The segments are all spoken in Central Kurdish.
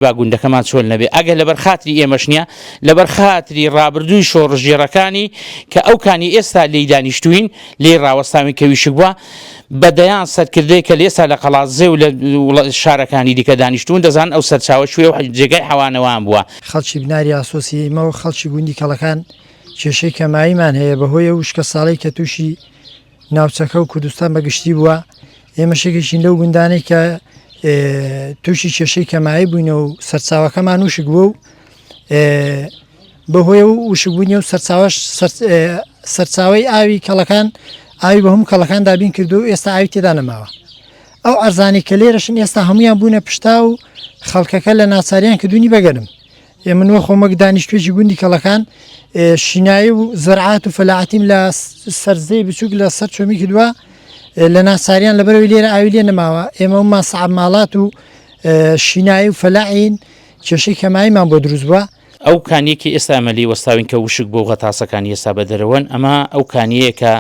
با گوندەکەمان چۆل نەبێ ئەگەر لەبەر خاتری ئێمەش نیە لەبەر خاتری ڕابردووی شۆڕشگێڕەکانی کە ئەو کانی ئێستا لێی دانیشتووین لێی ڕاوەستاوین کە ویشک بووە بە دەیان سەرکردەی کە لێسا لە قەڵازێ و لە شارەکانی دیکە دانیشتوون دەزان ئەو سەرچاوە شوێ و جێگای حەوانەوان بووە. خەڵکی بناری ئاسۆسی ئیمە و خەڵکی گوندی کەڵەکان کێشەی کەماییمان هەیە بەهۆی ئەو وشکە ساڵەی کە تووشی ناوچەکە و کوردستان بە گشتی بووە ئێمە شێکێکین لەو گوندانەی کە تووشی کێشەی کەمایی بووینە و سەرچاوەکەمان وشک بوو و بەهۆی و وشبوونی و سەرچاوش سەرچاوی ئاوی کەڵەکان ئاوی بە هەموو کەڵەکان دابین کردو و ئێستا ئاوی تێدا نەماوە ئەو ئەرزانی کە لێرەشن ئێستا هەمویان بوونە پشتا و خەڵکەکە لە ناچاریان کردوونی بەگەرم ی من وەخۆم وەک دانیشتوێکی گوندی کەڵەکان شینایی و زەرعات و فەلاعتیم لە سەرزەی بچووک لە سەر چۆمی کردووە لە ناساریان لەبەرەوەی لێرە ئاوی لێ نەماوە ئێمە و ماسەعب ماڵات و شینایی و فەلاعین کێشەی کەماییمان بۆ دروست بووە ئەو کانیەکی ئێستا ئەمەلی وەستاوین کە وشک بۆ غەتاسەکانی ئێستا بە دەرەوەن ئەمە ئەو کانیەکە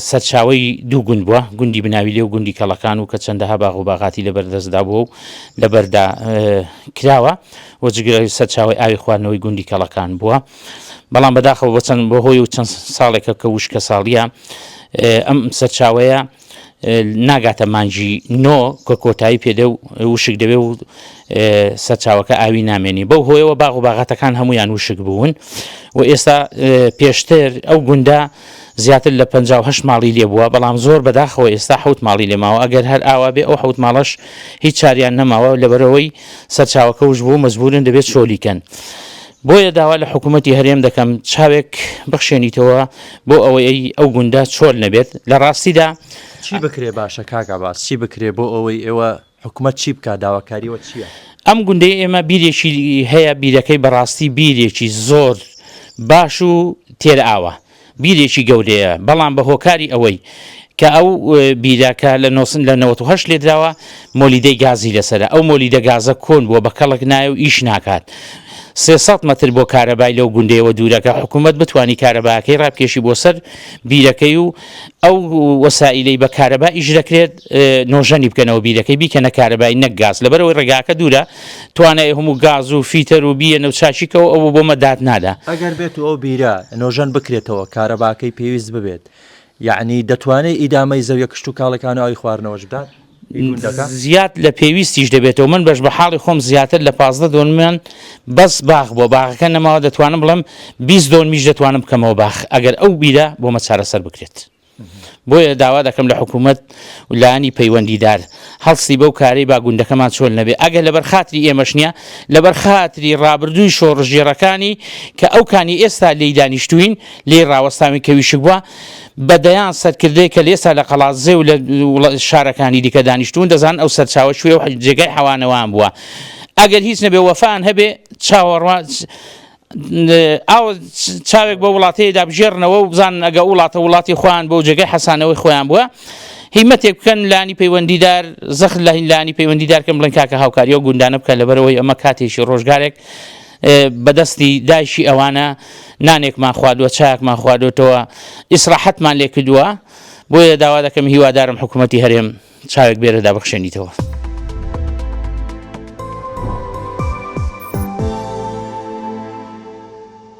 سەرچاوەی دوو گوند بووە، گوندی بناویلێ و گوندی کەڵەکان و کە چەندەها باغ و باغاتی لەبەر دەستدا بووە و لەبەردا کراوە و جگە سەرچاوەی ئاوی خواردنەوەی گوندی کەڵەکان بووە، بەڵام بەداخەوە بۆ چەند بەهۆی و چەند ساڵێکە کە وشکەساڵییە ئەم سەرچاوەیە ناگاتە مانجی نۆ کە کۆتایی پێدە و وشک دەبێ و سەرچاوەکە ئاوی نامێنی بەو هۆیەوە باغ و باغاتەکان هەمویان وشک بوون و ئێستا پێشتر ئەو گوندا زیاتر لە 5 ماڵی لێ بووە بەڵام زۆر بەداخەوە ئێستا حوت ماڵی لێماوە ئەگەر هەر ئاوا بێ ئەو حوت ماڵەش هیچ چاریان نەماوە لەبەرەوەی سەرچاوەکەوش بوو مەزبورن دەبێت چۆلیکەن. بۆیە داوا لە حکوومەتی هەرێم دەکەم چاوێک بخشێنیتەوە بۆ ئەوەی ئەو گوندە چۆل نەبێت، لە ڕاستیدا. چی بکرێ باشە کاک عەباس؟ چی بکرێ بۆ ئەوەی ئێوە، حکومەت چی بکا؟ داواکاری وە چییە؟ ئەم گوندەی ئێمە بیرێکی هەیە، بیرەکەی بەڕاستی بیرێکی زۆر باش و تێرئاوە. بیرێکی گەورەیە بەڵام بە هۆکاری ئەوەی کە ئەو بیرە کە لە نۆسن لە نەوەت و هەشت لێدراوە مۆلیدەی گازی لەسەرە ئەو مۆلیدە گازە کۆن بووە بە کەڵک نایە و ئیش ناکات سێ سەد مەتر بۆ کارەبای لەو گوندەیەوە دوورەکە حکوومەت بتانی کارەباکەی ڕابکێشی بۆ سەر بیرەکەی و ئەو وەسائلەی بە کارەبا ئیش دەکرێت نۆژەنی بکەنەوە بیرەکەی بیکەنە کارەبای نەک گاز لەبەرەوەی ڕێگاکە دوورە توانای هەموو گاز و فیتەر و بییە نەو چاکیکەوە ئەو بۆ مە داد نادا. ئەگەر بێت و ئەو بیرە نۆژەن بکرێتەوە کارەباکەی پێویست ببێت یەعنی دەتوانێت ئیدامەی زەویە کشتوکاڵەکان و ئاوی خواردنەوەش بدات؟ زیاد لە پێویستیش دەبێتەوە من بەش بە حاڵی خۆم زیاتر لە پازدە دۆنمیان بەس باخ بۆ باخەکە نەماوە دەتوانم بڵێم بیست دۆنمیش دەتوانم بکەمەوە باخ ئەگەر ئەو بیرە بۆ مە چارەسەر بکرێت. بۆیە داوا دەکەم لە حکوومەت و لایەنی پەیوەندیدار هەڵستی بەو کارەی با گوندەکەمان چۆل نەبێ ئەگەر لەبەر خاتری ئێمەش نییە لەبەر خاتری ڕابردووی شۆڕشگێڕەکانی کە ئەو کانی ئێستا لێی دانیشتووین لێی ڕاوەستاوین کە ویشک بووە بە دەیان سەرکردەی کە لێستا لە قەڵادزێ و لە شارەکانی دیکە دانیشتوون دەزان ئەو سەرچاوە شوێ و جێگای حەوانەوەیان بووە ئەگەر هیچ نەبێ وەفان هەبێ چاوەڕوان ئاوە چاوێک بە وڵاتەیەدا بژێرنەوە و بزانن ئەگە وڵاتە وڵاتی خۆیان بۆ جێگەی حەسانەوەی خۆیان بووە هیمەتێک بکەن لانی پەیوەندیدار زەخت لە هیلانی پەیوەندیدار کەم بڵێن کاکە هاوکاری و گوندانە بکە لەبەرەوەی ئەمە کاتێکی ڕۆژگارێک بەدەستی دایشی ئەوانە نانێکمان خوادوە چاکمان خوادوتەوە ئیسراحەتمان لێ کردووە بۆیە داوا دەکەم هیوادارم حکوومەتتی هەرێم چاوێک بێرە دابخشێنیتەوە.